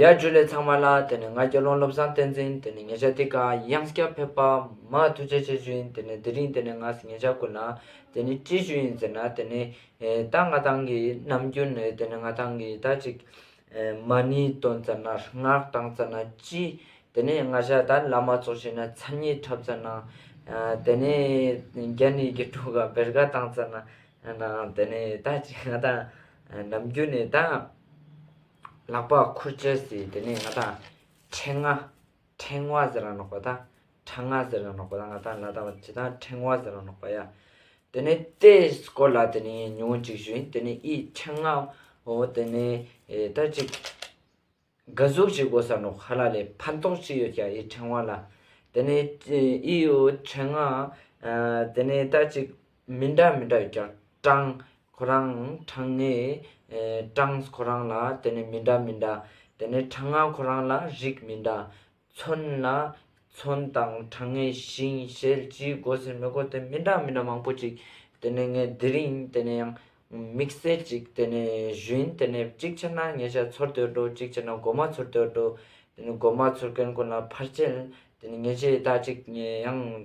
ཡར་བརྒྱུད་ལས་ཚང་མ་ལ་དེ་ནས་ང་རྒྱལ་རླུང་བློ་བཟང་བསྟན་འཛིན་དེ་ནས་ཉེ་ཆར་དེ་ག་དབྱངས་སྐྱ་ཕེབས་པ་མ་ཐུགས་རྗེ་ཆེ་ཞུ་ཡིན་དེ་ནས་དེ་རིང་དེ་ནས་ང་ཉེ་ཆར་སྐུ་ན་དེ་ནས་ཅི་ཞུ་ཡིན་ཟེར་ན་དེ་ནས་ད་ང་ཐང་གི་ནམ་རྒྱུན་ནས་དེ་ནས་ང་ཐང་གི་ད་ཅིག་མ་ནི་དོན་རྩ་ན་སྔགས་དང་རྩ་ན་སྤྱི་དེ་ནས་ང་ཤ་ད་བླ་མ་ཚོགས་བྱས་ན་ཚ་ཉིད་འཁྲབ་རྩ་ན་དེ་ནས་རྒྱ་ནི་དགེ་ཕྲུག་ག་བེར་ག་དང་རྩ་ན་དེ་ནས་ད་ཅིག་ང་ཐང་ནམ་རྒྱུན་ནས་ད། ལག་པ་ཁུར་བཅད་སྲིད་དེ་ནས་ང་དང། ཕྲེང་ང། ཕྲེང་ང་ཟེར་ར་ནོག་པ་དང། ཕྲ་ང་ཟེར་ར་ནོག་པ་དང་ང་དང་ལ་དང་བྱི་དང་ཕྲེང་བ་ཟེར་ར་ནོག་པ་ཡ། དེ་ནས་ཏའི་སྐོར་ལ་དེ་ནས་ཉུང་ངུ་ཅིག་ཞུས་དེ་ནས་ཨི་ཕྲེང་ང། འོ་དེ་ནས་ད་ཅིག། དགའ་གཟུགས་ཅིག་འོ་ས་ནོག་ཧ་ལ་ལས་ཕན་ཐོགས་ཅི་ཡོད་ཀྱ་ཨི་ཕྲེང་བ་ལ། དེ་ནས་ཨི་འོ་ཕྲེང་ང། དེ་ནས་ད་ཅིག། མི་འདྲ་མི་འདྲ་ཡོད་ཀྱང་གྲངས་ཁོ་རང་གྲངས་ངེས་གྲངས་ཁོ་རང་ལ་དེ་ནས་མི་འདྲ་མི་འདྲ་དེ་ནས་གྲངས་ང་ཁོ་རང་ལ་རིགས་མི་འདྲ། མཚོན་ལ་མཚོན་དང་གྲངས་ངེས་ཞིང་ཞལ་གྱིས་སྒོ་ཟེར་མི་སྒོ་དེ་མི་འདྲ་མི་འདྲ་མང་པོ་ཅིག་དེ་ནས་ངས་དེ་རིང་དེ་ནས་ཡང་དམིགས་བསལ་ཅིག་དེ་ནས་ཞུན་དེ་ནས་གཅིག་ཆར་ན་ཉེ་ཆར་ཚོར་འདོད་འགྲོ་གཅིག་ཆར་ན་སྒོ་མ་ཚོར་འདོད་འགྲོ་དེ་ནས་སྒོ་མ་ཚོར་མཁན་ཀུན་ལ་ཕར་ཆེར་དེ་ནས་ཉེ་ཆེ་ད་ཅིག་ཡང།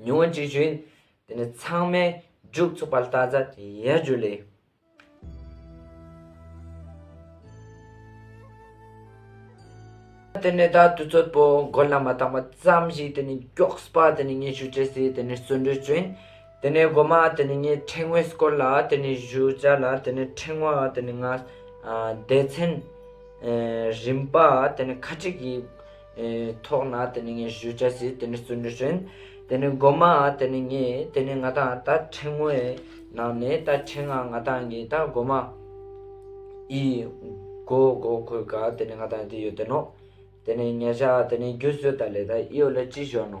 མྱོང་བ་ཅི་བྱུང་དེ་ནི་ཚང་མས་མཇུག་ཚུགས་པར་བལྟ་ཚར་དེ་ཡལ་རྒྱུ་ལས། དེ་ནས་ད་དུས་ཚོད་པོ་མགོ་ལ་མ་བཏང་བ་ཙམ་ཞིག་དེ་ནི་མགྱོགས་པ་དེ་ནི་ངས་ཞུ་བྱེད་ཟེར་དེ་ནི་བརྩོན་འགྲུས་བྱོན། དེ་ནས་སྒོ་མ་དེ་ནི་ངའི་ཕྲེང་བས་བསྐོར་ལ་དེ་ནི་བཞུ་བྱ་ལ་དེ་ནི་ཕྲེང་བ་དེ་ནི་ང། སྡེ་ཚན། རིམ་པ་དེ་ནི་ཁ་ཁྲིག་གིས། ཐོག་ན་དེ་ནི་ངའི་གཞུ་ཆ་ཟིག་དེ་ནི་བཙོན་གྲོལ་བྱོན། དེ་ནི་སྒོ་མ་དེ་ནི་ངས་དེ་ནི་ང་དང་ད་ཕྲེང་ངོ་ཡི་ནང་ནས་ད་ཕྲེང་ང་ང་དང་ངའི་ད་སྒོ་མ་ཡི་སྒོ་སྒོ་ཁོའི་ག་དེ་ནི་ང་དང་དེ་ཡོད་དེ་ནོ། དེ་ནི་ཉལ་བྱ་དེ་ནི་རྒྱུ་བཟོས་ད་ལས་ད་ཨི་ཡོད་ལ་ཅི་བྱོས་ནོ།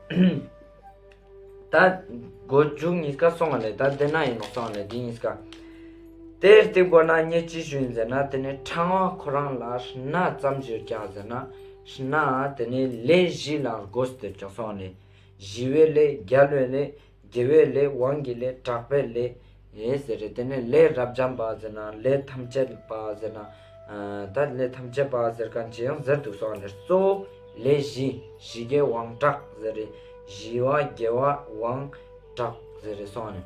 ད་སྒོ་འཇུག་གཉིས་ཀ་སོང་བ་ལས་ད་བདེ་ན་ཡིན་ནོ་སོང་བ་ལས་འདི་གཉིས་ཀ། དེར་བརྟེན་སྒོ་ན་ཉེ་ཅི་ཞུ་ཡིན་ཟེར་ན་དེ་ནི་ཕྲང་བ་ཁོ་རང་ལ་སྣ་ཙམ་བཞིར་བཅངས་ཟེར་ན་སྣ་དེ་ནི་ལས་བཞི་ལའང་སྒོ་ཟེར་ཀྱང་སོང་བ་ལས་བཞི་བའི་ལས་བརྒྱ་ལོའི་ལས། དགེ་བའི་ལས་དབང་གི་ལས་གྲགས་པའི་ལས། ཟེར་རེ་དེ་ནས་ལས་རབ་འབྱམས་པ་ཟེར་ན་ལས་ཐམས་ཅད་པ་ཟེར་ན། ད་ལས་ཐམས་ཅད་པ་ཟེར་ག་ཇི་ཡང་ཟེར་འདུག་སོགས་ནས་གཙོ་བོ་ལས་བཞི་བཞི་གའི་དབང་གྲགས་ཟེར་རེ། བཞི་བ་དགེ་བ་དབང་གྲགས་ཟེར་རེ་སོགས་ནས།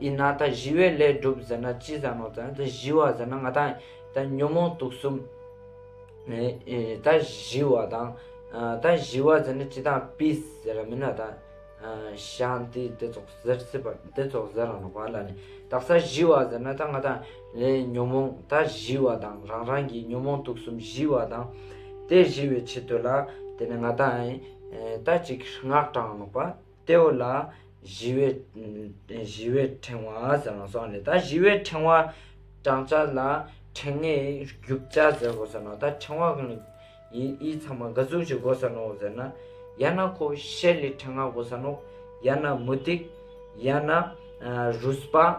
ཡིན་ན་ད་གཞི་བའི་ལས་སྒྲུབ་ཟེར་ན་ཅི་ཟ་ནོ་ད་གཞི་བ་ཟེར་ན་ང་དང་ད་ཉོན་མོངས་དུག་གསུམ་ད་གཞི་བ་དང་ད་གཞི་བ་ཟེར་ན་ཅི་དང་པིས་ཟེར་ར་མིན་ན་ད་ཤཱན་ཏི་དེ་ཚོགས་ཟེར་སྲིད་པ་དེ་ཚོགས་ཟེར་ར་ནོ་བ་ལ་ནི་ད་ས་གཞི་བ་ཟེར་ན་ད་ང་དང་ཉོན་མོངས་ད་གཞི་བ་དང་རང་རང་གི་ཉོན་མོངས་དུག་གསུམ་གཞི་བ་དང་དེ་གཞི་བའི་ཆེད་དུ་ལ་དེ་ནི་ང་དང་ད་ཅིག་སྔགས་དྲངས་ནོ་བ། ལྟེ་བ་ལ། བཞི་བའི། བཞི་བའི་ཕྲེང་བ་ཟེར་ནོ་སོགས་ནས་ད་བཞི་བའི་ཕྲེང་བ། བྲག་ཅག་ལ། ཕྲེང་ལྔའི་རྒྱུག་ཆ་ཟེར་གོ་ཟེར་ནོ་ད་ཕྲེང་བ་གང། ཡི་ཚང་མ་འགའ་ཟུག་ཅིག་གོ་ཟེར་ནོ་ཟེར་ན། ཡ་ན་ཁོ་ཤེལ་ལི་ཕྲེང་ལྔ་གོ་ཟེར་ནོ། ཡ་ན་མུ་ཏིག། ཡ་ན། རུས་པ།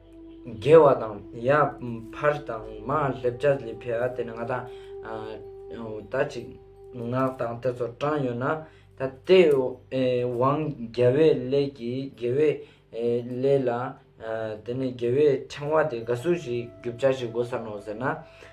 རྒྱལ་བ་དང། ཡབ། འཕར་དང། མ་སླེབ་ཅར་ལི་ཕེ་ཨ་དེ་ནི་ང་དང། ད་ཅིག། ངག་དང་དེ་ཚོར་དྲངས་ཡོད་ན། ད་ལྟའི། བང། རྒྱལ་བའི་ལས་ཀྱི་དགེ་བའི། ལས་ལ། དེ་ནི་དགེ་བའི་ཕྲེང་བ་དེ་དགའ་བསུ་ཞིག་རྒྱུ་བྱ་ཞིག་དགོས་ས་ནོ་ཟེར་ན།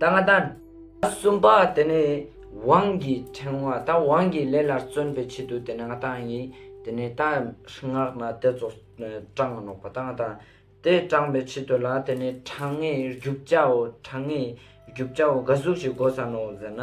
ད་ང་དང། གསུམ་པ་དེ་ནི་དབང་གི་ཕྲེང་བ་དང་དབང་གི་ལས་ལ་བརྩོན་པའི་ཆེད་དུ་དེ་ནི་ང་དང་ཡིན། དེ་ནི་རྟ་སྔགས་ན་དེ་ཚོ་སྤྲང་ང་ནོག་པ་དང་ང་དང། དེ་སྤྲང་པའི་ཆེད་དུ་ལ་དེ་ནི་གྲངས་ངེས་རྒྱུག་བྱའོ་གྲངས་ངེས་རྒྱུག་བྱའོ་འགའ་གཟུགས་ཀྱི་སྒོ་ས་ནོག་ཟེར་ན།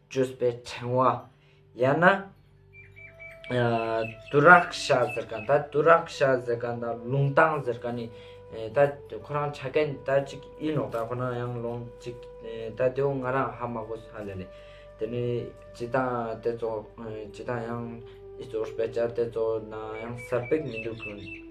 བཅོས་པའི་ཕྲེང་བ། ཡང་ན། དུ་རཀ་ཤ་ཟེར་ག་ད་དུ་རཀ་ཤ་ཟེར་ག་ད་ལུང་ཏང་ཟེར་ག་ནི་ད་ཁོ་རང་ཆ་གན་ད་ཅིག་ཡིན་ནོག་ད་ཁོ་ན་ཡང་ལོང་ཅིག་ད་དེའུ་ང་རང་ཧ་མ་གོ་ས་ལེ་ལེ། དེ་ནི་ཅི་ད་དེ་ཚོ་ཅི་ད་ཡང་ཨི་ཙོ་སྤེ་ཅ་དེ་ཚོ་ན་ཡང་ས་པེག་མི་འདུག་གུ།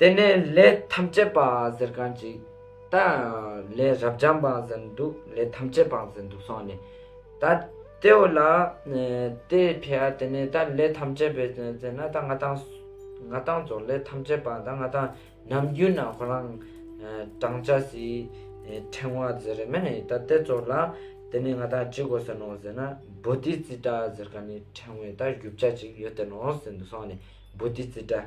དེ་ནས་ལས་ཐམས་ཅད་པའང་ཟེར་གང་ཅིག། ད་ལས་རབ་འབྱམས་པའང་ཟེར་འདུག་ལས་ཐམས་ཅད་པའང་ཟེར་འདུག་སོང་ནས། ད་ལྟེའོ་ལ། དེ་ཕྱིར་དེ་ནས་ད་ལས་ཐམས་ཅད་པའི་ཟེར་ན་ད་ང་དང། ང་དང་སོགས་ལས་ཐམས་ཅད་པའང་ད་ང་དང་ནམ་རྒྱུན་ན་ཁོ་རང། བགྲང་བྱ་སྲིད། ཕྲེང་བ་ཟེར་རེ་མེད་ནས་ད་ལྟེ་སོགས་ལ། དེ་ནས་ང་དང་ཅི་དགོས་ཟེར་ནོ་ཟེར་ན་བུ་དེའི་རྩིས་འདྲ་ཟེར་གང་ནས་ཕྲེང་བའི་ད་བཞུ་བྱ་ཅིག་ཡོད་དེ་ནོ་ཟེར་འདུག་སོང་ནས་བུ་དེའི་རྩིས་འདྲ།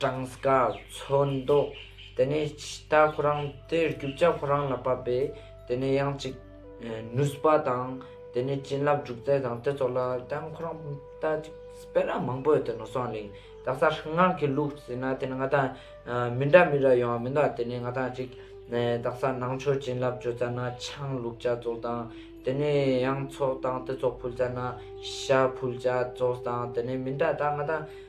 གྲངས་ཀ་ཚོད་མདོག་དེ་ནས་ད་ཁོ་རང་དེ་རྒྱུ་ལྕག་ཁོ་རང་ལ་བབས་པས་དེ་ནས་ཡང་ཅིག་ནུས་པ་དང་དེ་ནས་བྱིན་རླབས་འཇུག་རྩལ་དང་དེ་ཚོ་ལ་ད་ཁོ་རང་ད་ཅིག་སྤེན་ར་མང་པོས་དེ་ནོར་སོང་གླིང་དག་ས་སྔགས་ཀྱི་ལུགས་ཟིན་ན་དེ་ནས་ང་ད་མི་འདྲ་མི་འདྲ་ཡོང་བ་མི་འདུག་དེ་ནས་ང་ད་ཅིག་དག་ས་ནང་ཆོས་བྱིན་རླབས་བྱོས་ཙ་ན་ཆང་བླུགས་བྱ་ཚོགས་དང་དེ་ནས་ཡང་ཚོགས་དང་དེ་ཚོགས་ཕུལ་ཙ་ན་ཤ་ཕུལ་བྱ་ཚོགས་དང་དེ་ནས་མི་འདྲ་ད་ང་ད།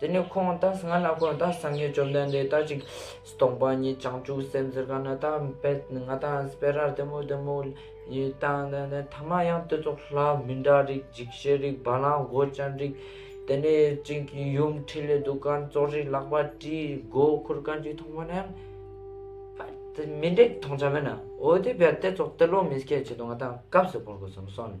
དེ་ནས་ཁོང་ད་སྔ་ན་ཁོང་ད་སང་ངེ་བཅོམ་ལྡན་འདས་ད་ཅིག། སྟོང་པ་ཉིད་བྱང་ཆུབ་སེམས་གཟིར་ག་ན་ད་འབད་ང་ད་སྤེ་རར་དེ་མོ་དེ་མོ། ཡི་ད་ན་ན་ཐ་མ་ཡང་དེ་ཚོ་ལྷ་མི་འདྲ་རིགས་འཇིགས་བྱེད་རིགས་བ་ལང་སྒོ་ཅན་རིགས། དེ་ནས་ཅིག་གིས་ཡུམ་ཁྲི་ལས་འདུག་ག་ཙོག་རིགས་ལག་པ་དཀྲིས་མགོ་ཁུར་ག་ཅིག་མཐོང་བ་ན་ཡང། ད་མི་འདྲེག་མཐོང་བྱ་མེད་ན་འོ་དེ་བས་དེ་ཚོ་དེ་ལོག་མི་སྐད་བྱེད་དོ་ང་ད་སྐབས་སུ་འཕོར་དགོས་སམ་སོང་ནས།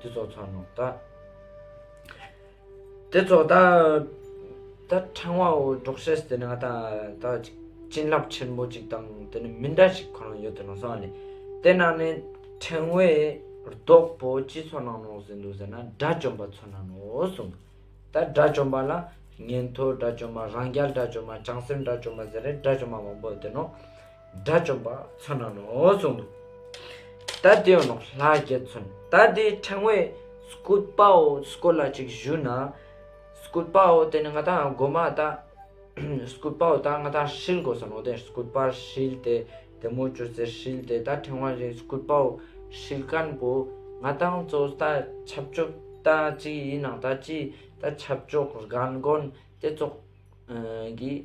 དེ་ཚོགས་ཚང་ནོ། ད་དེ་ཚོགས་ད་ད་ཕྲེང་བ་འོ་སྒྲོག་བྱས་དེ་ནི་ང་ད་ད་ཅིག་བྱིན་རླབས་ཆེན་པོ་ཅིག་དང་དེ་ནི་མི་འདྲ་ཞིག་ཁོ་ན་ཡོད་དེ་ནང་སོང་བ་ནི་དེ་ན་ནི་ཕྲེང་བའི་རྡོག་པོ་སྤྱི་ཚོགས་ནང་ནོག་ཟིན་འདུག་ཟེར་ན་དགྲ་བཅོམ་པ་ཚོ་ན་ནོ་གསུངས། ད་དགྲ་བཅོམ་པ་ལ་ཉན་ཐོས་དགྲ་བཅོམ་པ་རང་རྒྱལ་དགྲ་བཅོམ་པ་བྱང་སེམས་དགྲ་བཅོམ་པ་ཟེར་རེ་དགྲ་བཅོམ་པ་མང་པོ་ཡོད་དེ་ནོ། དགྲ་བཅོམ་པ་མཚོན་ན་ནོ་གསུངས་འདུག་ད་དེ་ཡང་ནོ་ལྷ་རྒྱལ་མཚོན་ད་དེ་ཕྲེང་བས་སྐུད་པའོ་སྐུད་ལ་ཅིག་བཞུ་ན་སྐུད་པའོ་དེ་ནི་ང་དང་སྒོ་མ་ད་སྐུད་པའོ་ད་ང་དང་ཧྲིལ་དགོས་སོ་ནོ་དེ་སྐུད་པར་ཧྲིལ་ཏེ་དེ་མོ་ཅོ་ཟེར་ཧྲིལ་ཏེ་ད་ཕྲེང་བ་རེ་སྐུད་པའོ་ཧྲིལ་དཀར་པོ་ང་དང་ཚོ་ད་ཆབ་ཅོག་ད་ཅི་ཡིན་ན་ད་ཅི་ད་ཆབ་ཅོག་རྒན་རྒོན་དེ་ཚོགས་གིས་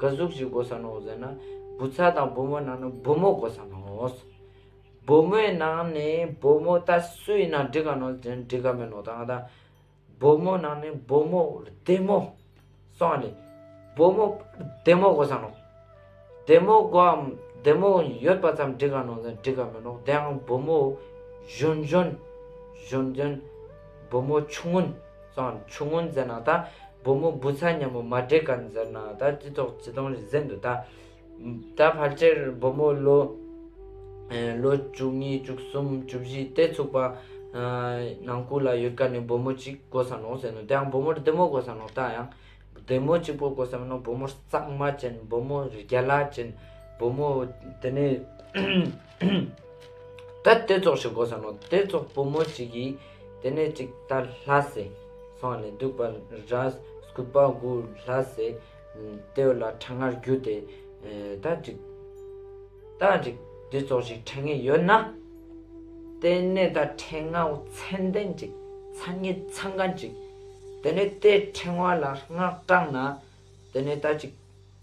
ག་གཟུགས་ཅིག་བགོ་ས་ནོ་ཟེར་ན་བུ་ཚ་དང་བུ་མོ་ནང་ནས་བུ་མོ་བགོ་ས་ནོ། བུ་མོའི་ནང་ནས་བུ་མོ་ད་སུ་ཡིན་ན་འགྲིག་ག་ནོ་ཟེར་ན་འགྲིག་ག་མེད་ནོ་ད་ང་ད། བུ་མོ་ནང་ནས་བུ་མོ་བདེ་མོ་སོང་བ་ལས་བུ་མོ་བདེ་མོ་བགོ་ས་ནོ། བདེ་མོ་བགོ་བའམ་བདེ་མོ་ཡོད་པ་ཙམ་འགྲིག་ག་ནོ་ཟེར་ན་འགྲིག་ག་མེད་ནོ་དེའང་བུ་མོ་གཞོན་གཞོན། གཞོན་གཞོན། བུ་མོ་ཆུང་ངུ། ཙང་ཆུ་སྔོན་མཛེར་ན་ད། བུ་མོ་བུ་ཚ་མཉམ་མོ་མ་བྲེ་ག་མཛེར་ན་ད་ཅི་ཐོག་བྱི་དོང་རི་གཟེངས་དུ་ད། ད་ཕར་ཆེར་བུ་མོ་ལོ། ལོ་བཅུ་གཉིས་བཅུ་གསུམ་བཅུ་བཞི་སྟེ་ཚུགས་པ། ནང་སྐུ་ལ་ཡོད་ཀ་ནས་བུ་མོ་གཅིག་དགོ་ས་ནོ་ཟེར་ནོ་དེ་ཡང་བུ་མོར་བདེ་མོ་དགོ་ས་ནོ་ད་ཡང། བདེ་མོ་གཅིག་པོ་དགོ་ས་མིན་ནོ་བུ་མོར་གཙང་མ་ཅན་བུ་མོ་རྒྱ་ལ་ཅན་བུ་མོ་དེ་ནས། ད་དེ་ཙོག་ཞིག་གོ་ས་ནོ་དེ་ཙོག་བུ་མོ་ཅིག་གིས་དེ་ནས་ཅིག་ད་ལྷ་སེ་སོང་ནས་སྡུག་པ་ར་སྐུད་པ་དགུ་ལྷ་སེ་ལྟེའུ་ལ་ཁྲ་ངར་རྒྱུ་དེ་ད་ཅིག་ད་ཅིག་དེ་ཙོག་ཞིག་ཁྲ་ངེ་ཡོད་ན་དེ་ནས་ད་ཁྲེ་ང་བོ་ཚན་ལྡན་ཅིག་ཚ་ངེ་ཚ་འགའ་ཅིག་དེ་ནས་དེ་ཁྲེང་བ་ལ་སྔགས་བྲག་ན་དེ་ནས་ད་ཅིག་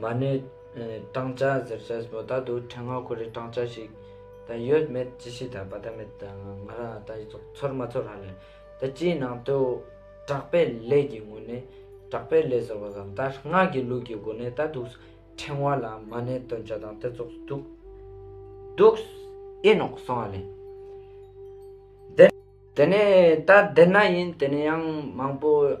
མ་ནི། སྤྲང་བྱ་གཟེར་བྱ་མོ་ད་དུ་ཕྲེང་བ་ཁོ་རེ་སྤྲང་བྱ་ཞིག། ད་ཡོད་མེད་ཅི་ཤེས་ད་བ་ད་མེད་ད། ང་རང་ད་ཚོར་མ་ཚོར་ཧ་ལས། ད་སྤྱིའི་ནང་དུ། གྲགས་པའི་ལས་ཀྱི་ངོས་ནས། གྲགས་པའི་ལས་ཟེར་བ་དང་ད་སྔགས་ཀྱི་ལུགས་ཀྱི་སྒོ་ནས་ད་དུགས། ཕྲེང་བ་ལ་མ་ནི་སྟོན་བྱ་དང་དེ་ཚོགས་དུགས། དུགས། ཨེ་ནོག་སོང་ཧ་ལས། དེ། དེ་ནས་ད་དེ་ན་ཡིན་དེ་ནས་ཡང་མང་པོ།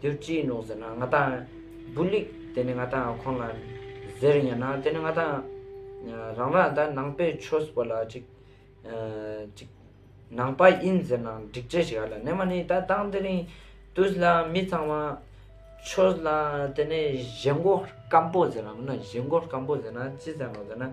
འདིར་ཅི་ཡིན་ནོ་ཟེར་ན་ང་དང། བུ་ལིག་དེ་ནི་ང་དང་ཁོང་ལ། ཟེར་ཡང་ན་དེ་ནི་ང་དང། རང་རང་ད་ནང་པའི་ཆོས་པོ་ལ་ཅིག། ཅིག། ནང་པ་ཡིན་ཟེར་ན་འགྲིག་འགྲིག་ཞིག་ཨ་ལ་ནས་མ་ནི་ད་དང་དེ་རིང། དུས་ལ་མི་ཚང་བ། ཆོས་ལ་དེ་ནི་བཞེད་མགོ་སྐམ་པོ་ཟེར་ནམ་ན་བཞེད་མགོ་སྐམ་པོ་ཟེར་ན་ཅི་ཟེར་ནོ་ཟེར་ན།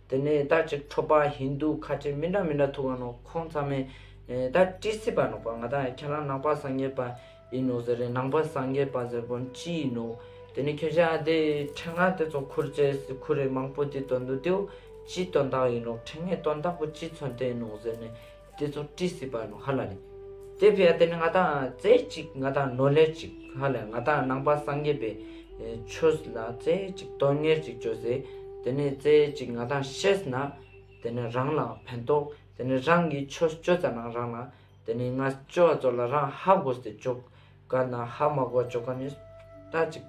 དེ་ནས་ད་ཅིག་ཁྲོ་པ་ཧིན་དུ་ཁ་ཆེ་མི་འདྲ་མི་འདྲ་ཐུག་ག་ནོ་ཁོང་ཚང་མས་ད་བཀྲིས་སི་པ་ནོག་པ་ང་ད་ཁྱེད་རང་ནང་པ་སངས་རྒྱས་པ་ཡིན་ནོ་ཟེར་རེད་ནང་པ་སངས་རྒྱས་པ་ཟེར་དགོན་ཅི་ཡིན་ནོ་དེ་ནས་ཁྱོད་ཅག་དེ་འཕྲེང་ངག་དེ་ཚོ་ཁུར་བཅས་སི་ཁུར་རེད་མང་པོ་དེ་དོན་དུ་དེའུ་སྤྱི་དོན་དག་ཡིན་ནོ་འཕྲེང་ངས་དོན་དག་པོ་སྤྱི་མཚོན་བསྟན་ནོ་ཟེར་ནས། དེ་ཚོ་བཀྲིས་སི་པ་ནོ་ཧ་ལ་ལི། དེ་བྷེ་ཡ་དེ་ནི་ང་དང་རྩེ་གཅིག་ང་དང་ནོ་ལེར་གཅིག་ཧ་ལས་ང་དང་ནང་པ་སངས་རྒྱས་པའི་ཆོས་ལ་རྩེ་གཅིག་དོན་གཉེར་གཅིག་བྱོས་ཟེ་དེ་ནི་རྩེ་གཅིག་ང་དང་ཤེས་ན་དེ་ནི་རང་ལ་ཕན་ཐོག་དེ་ནི་རང་གིས་ཆོས་སྤྱོད་ཙ་ན་རང་ལ་དེ་ནི་ང་སྤྱོད་བ་ཚོ་ལ་རང་ཧ་གོ་ཟེ་བཅོག་དཀར་ནག་ཧ་མ་གོ་ཅོ་ག་ནི། སྐྲ་གཅིག་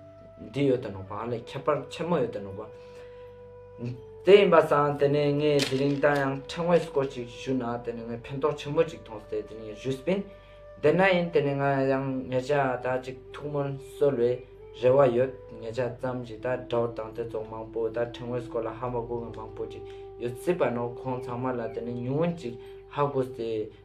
འདི་ཡོད་དོ་ནོ་བ་ལས་ཁྱད་པར་ཆེན་མོ་ཡོད་དོ་ནོ་བ། དེ་ཡིན་པ་བསམ་དེ་ནས་ངས་དེ་རིང་ད་ཡང་ཕྲེང་བས་སྐོར་ཅིག་བཞུས་ན་དེ་ནས་ངས་ཕན་ཐོགས་ཆེན་མོ་ཅིག་ཐོངས་ཏེ་དེ་ནས་བཞུས་སྤིན། དེ་ན་ཡིན་དེ་ནས་ང་ཡང་ངེད་ཅག་དག་ཅིག་ཐུགས་སྨོན་གསོལ་བའི་རེ་བ་ཡོད་ངེད་ཅག་ཙམ་གྱིས་ད་དགྲ་བོ་དང་དེ་ཚོ་མང་པོ་ད་ཕྲེང་བས་སྐོར་ལ་ཧ་མ་གོ་ང་མང་པོ་ཅིག་ཡོད་སྲིད་པ་ནོ་ཁོང་ཚང་མ་ལ་དེ་ནས་ཉུང་ངུ་ཅིག་ཧ་གོ་སྟེ།